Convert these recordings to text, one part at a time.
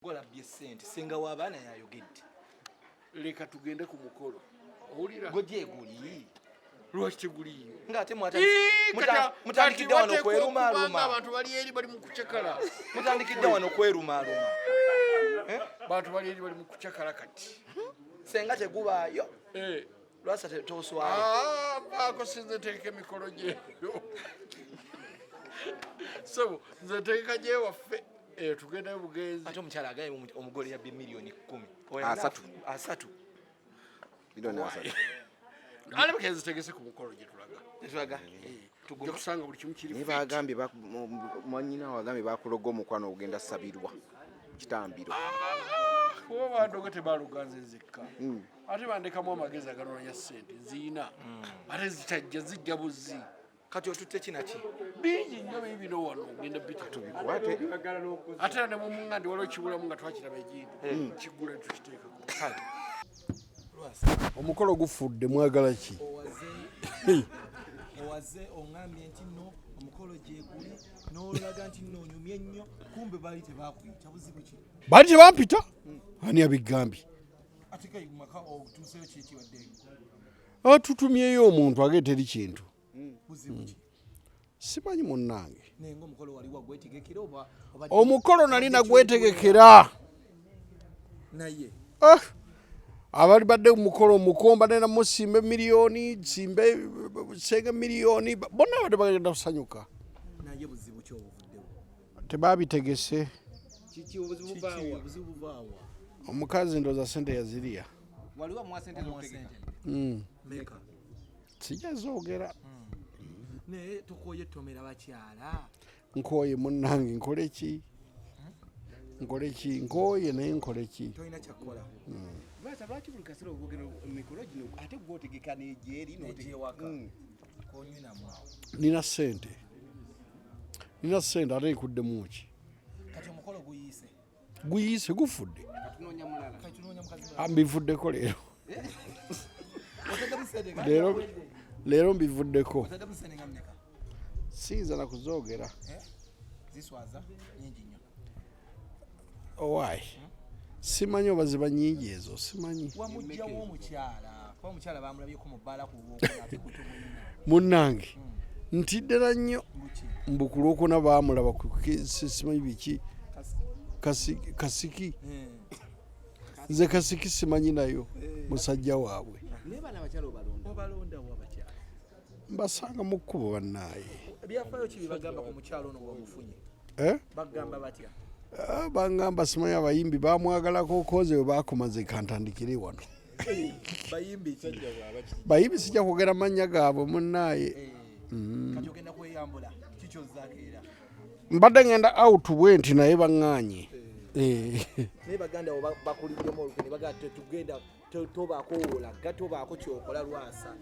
gwalabbye sente senga w'abaana yayogedde leka tugende ku mukolo owulira gojeeguli lwaki teguliyo ngaate mutandikidde wano kwerumaaluma abantu bali eri bali mu kucakala mutandikidde wano kwerumaaluma eh? bantu bali eri bali mu kucakala kati senga tegubaayo eh. Lwasa toswali. Ah, bako sinze teke mikolo je. So, nze teke je wafe. Eh, tugenda bugenzi. Ato mchala agaye omugole ya bi milioni 10. Oya asatu. Asatu. Milioni asatu. Ale bugenzi teke se ku mukolo je tulaga. Tulaga. Eh. naye bagambye mwanyina wagambye bakuloga omukwano ogenda sabirwa kitambiro kuba ah, bandoga tebaloga nze nzekka hmm. ate bandekamu amagezi aganoonya sente nziina hmm. ate zitajja zijja buzzi kati otutte kinaki bingi nyo bye bino wano ogenda bitatubikwate ate ne mumungandi waliwo kibulamu nga twakiraba egindi hmm. kigula tukiteekako omukolo gufudde mwagala ki owaze ongambye nti no omukolo gyeguli nolaga nti nonyumye nnyo kumbe baali tebakuyita buzibu ki baali tebampita hmm. ani abigambye atutumyeyo omuntu age teri kintu hmm. hmm. simanyi munnange omukolo nali nagwetegekera ah! abali badde mukolo mukomba nena musimba emiliyoni simba senga emiliyoni bonna badde bagenda kusanyuka tebabitegese omukazi ndoza sente yaziriya waliwo mwa sente mwa sente mm meka sijja zoogera hmm. naye tokoye tomera bakyala nkoye munnange nkole ki hmm? nkole ki nkoye naye nkole ki tolina kyakkola basa hmm. lwaki buli kasera obogera mikolo gino ate gwe otegeka negyeri negyewaka nina sente nina sente ate nkuddemu ki kati omukolo guyise guyiise gufudde mbivuddeko leero leero leero mbivuddeko siyinza nakuzoogera owaayi eh? oh, simanyi oba ziba nyingi ezo simanyi munnange ntiddala nnyo mbu ku lwokuna baamulaba simanyi biki kasiki nze kasiki simanyi nayo musajja waabwe mbasanga mu kkubo bannaaye eh? ah, bangamba simanyi abayimbi bamwagalako koze we bakomaze kantandikire wano bayimbi sijja kwogera mannya gaabwe munnaaye eh, mm. mbadde ngenda out bwe nti naye baŋŋaanye eh. eh. naye baganda wo bakuliddemu olukwe ne bagamba tetugenda tobaako wolaga tobaako kyokola lwasa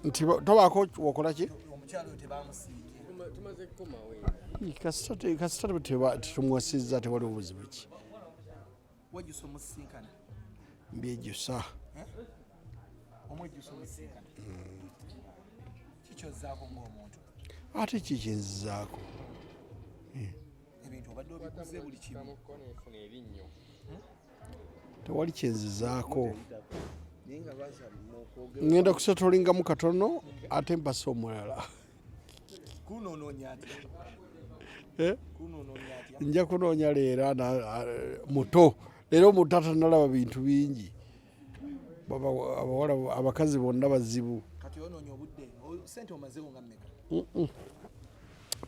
nti tobaako wokola ki omukyalo tebamusiiye kasita tetumwasizza tewali obuzibu ki wejjusa omusisinkana mbyejusa eh? omwejjusa omusisinkana hmm. kikyozaako ngaomuntu ate kikyenzizaako eh. ebintu obadde obikuze buli kimu hmm? tewali kyenzizaako ngenda kusetolingamu katono ate mpasa omulala Eh? nja kunoonya leero muto leero omuntu atanalaba bintu bingi abawala abakazi bonna bazibu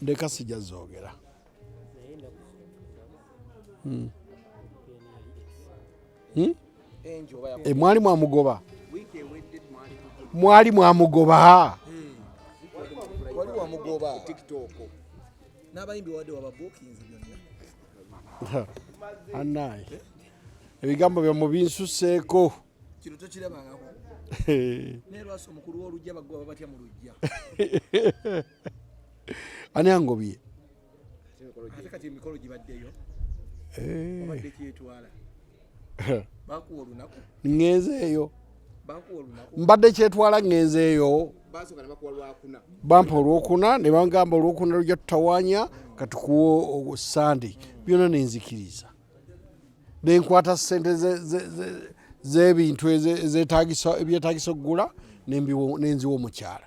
ndeka sijazogera hmm. Hmm? Eh, mwali mwamugoba mwali mwamugoba anaye ebigambo byamu binsuseeko kino tokirabangako naye lwasa omukulu w'olujja bagoba batya mu lujja ani angobye ŋenzeeyo mbadde kyetwala ŋenzeeyo bampa olwokuna ne bangamba olwokuna lujja tutawanya katukuwa sande byona nenzikiriza nenkwata sente zebintu ebyetagisa okugula nenziwa omukyala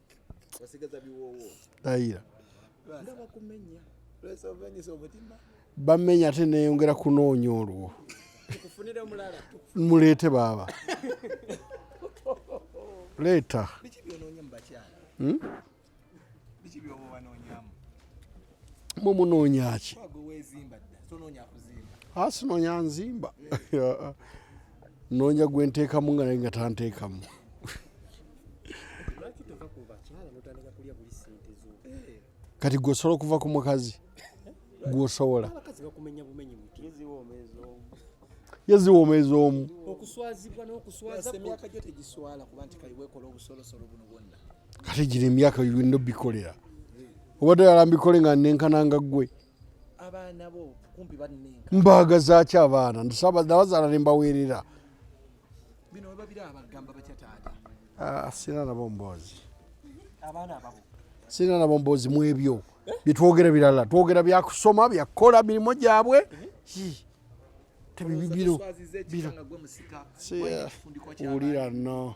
bamenya ate neyongera kunoonya olwo muleete baaba leeta hmm? mwe munoonya ki asinoonya nzimba noonya gwe nteekamu nga naye nga tanteekamu kati gwe osobola okuva ku mukazi gwosobola yeziwoomeza omu kati gino emyaka bino bikolera obadde yala mbikole nga nenkananga ggwe mbaaga zaaki abaana nabazaala ne mbaweerera ah, sirina nabo mboozi sirina nabo mboozi mu ebyo eh? byetwogera birala twogera byakusoma byakukola mirimu gyabwe eh? tebibibiro wulira no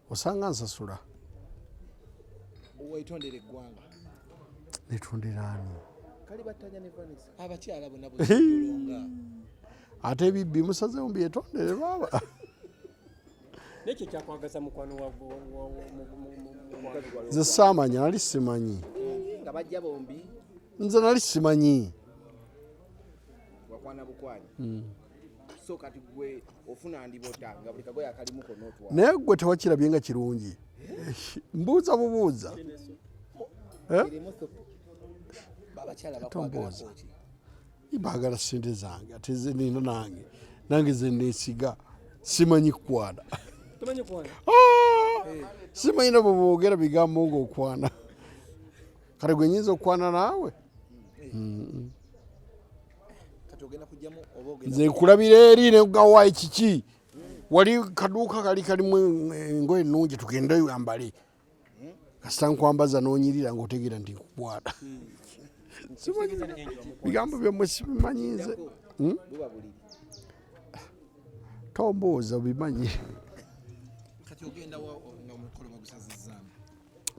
osanga nsasula wetondera eggwanga netondera ani abakyala bona ate ebibbi musazewo mbyetondere baaba nekyo kyakwagaza mukwano nze saamanya nali simanyi nga bajja bombi nze nali simanyi wakwana bukwani hmm. naye gwe tewakirabye nga kirungi mbuuza bubuuza eh? tombuuza baagala sente zange ate zenina nange nange zenesiga simanyi kukwana ah! eh. simanyi nabo boogera bigambo ngaokwana kale gwenyinza okukwana naawe eh. nze nkulabira eri negawayi kiki wali kaduuka kali kalimu engoye ennungi tugende yambale kasita nkwambaza nonyirira ngaotegeera nti nkukwata hmm. bigambo byamwe sibimanyi nze hmm? tombuuza obimanyi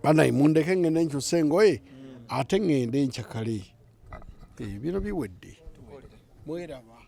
banaye mundeke ngende nkyusa engoye ate ngende nkyakale ebiro eh, biwedde mweraba